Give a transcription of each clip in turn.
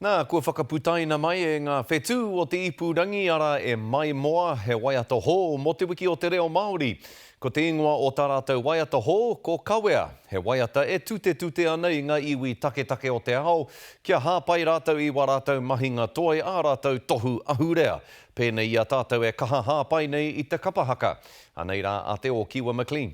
Nā, kua whakaputaina mai e ngā whetū o te ipurangi, arā, e Maimoa, he waiata hou mō te wiki o te reo Māori. Ko te ingoa o tā rātou waiata hou, ko Kawea, he waiata e tutetute ana i ngā iwi taketake o te ao, kia hāpai rātou i wā rātou mahinga toi, ā rātou tohu ahurea, pēnei i a tātou e kaha hāpai nei i te kapa haka. Anei rā a Te Ōkiwa McLean.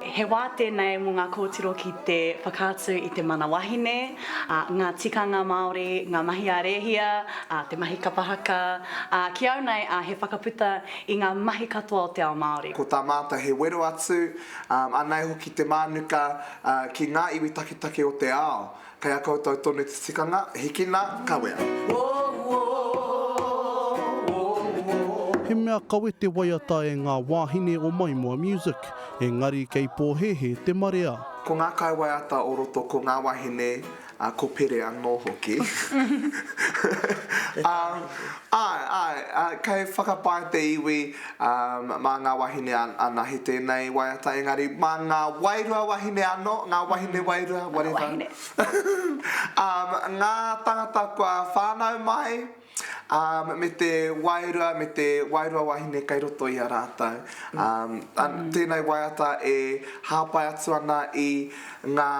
He wā tēnei mō ngā kōtiro ki te whakaatu i te mana wahine, ngā tikanga Māori, ngā mahi a Rēhia, te mahi kapa haka, ā, ki au nei, he whakaputa i ngā mahi katoa o te ao Māori. Ko tā mātou he wero atu, ā, anei hoki te mānuka ki ngā iwi taketake o te ao. Kei a koutou tonu te tikanga, hikina, kawea. He mea kawe te waiata e ngā wāhine o Maimoa Music, engari kei pōhēhē te marea. Ko ngā kaiwaiata o roto ko ngā wahine, ā, ko Pere anō hoki. Āe, āe, kei whakapae te iwi. Mā ngā wahine anahe tēnei waiata, engari mā ngā wairua wahine anō, ngā wahine wairua, whatever. Ngā tāngata kua whānau mai me te wairua, me te wairua wahine kei roto i a rātou. Tēnei waiata e hāpai atu ana i ngā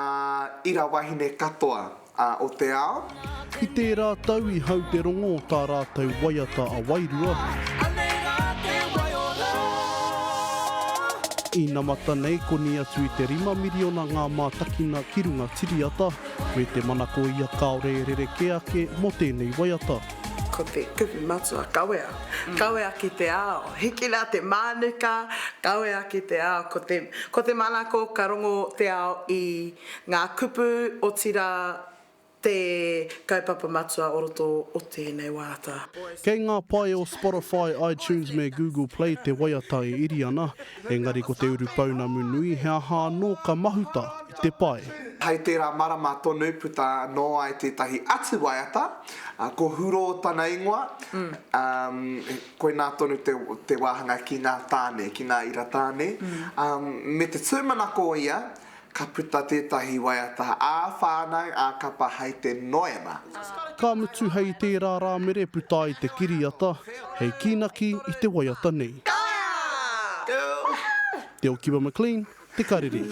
ira wahine katoa. A o te ao. I tērā tau i hau te rongo o tā rātou waiata a Wairua. Anei rā te waiora. Inamata nei koni atu i te rima miriona ngā mātakina ki runga tiriata, me te manako ia kāore e rerekē ake mō tēnei waiata. Ko te kupu matua kawea, kawea ki te ao. Hiki rā te mānuka, kawea ki te ao. Ko te manako ka rongo te ao i. Ngā kupu, otirā, te kaupapa matua o roto o tēnei wāta. Kei ngā pae o Spotify, iTunes me Google Play te waiata e iri ana, engari ko te urupounamu nui he aha anō ka mahuta i te pae. Hei tērā marama tonu puta anō ai tētahi atu waiata, ko Huro tana ingoa, koinā tonu te wāhanga ki ngā tāne, ki ngā ira tāne, me te tūmanako ia Ka puta tētahi waiata ā-whānau, ā-kapa hai te noema. Ka mutu hei tērā rā mere puta ai te kiriata hei kīnaki i te waiata nei. Te Okiwa McLean, Te Karere.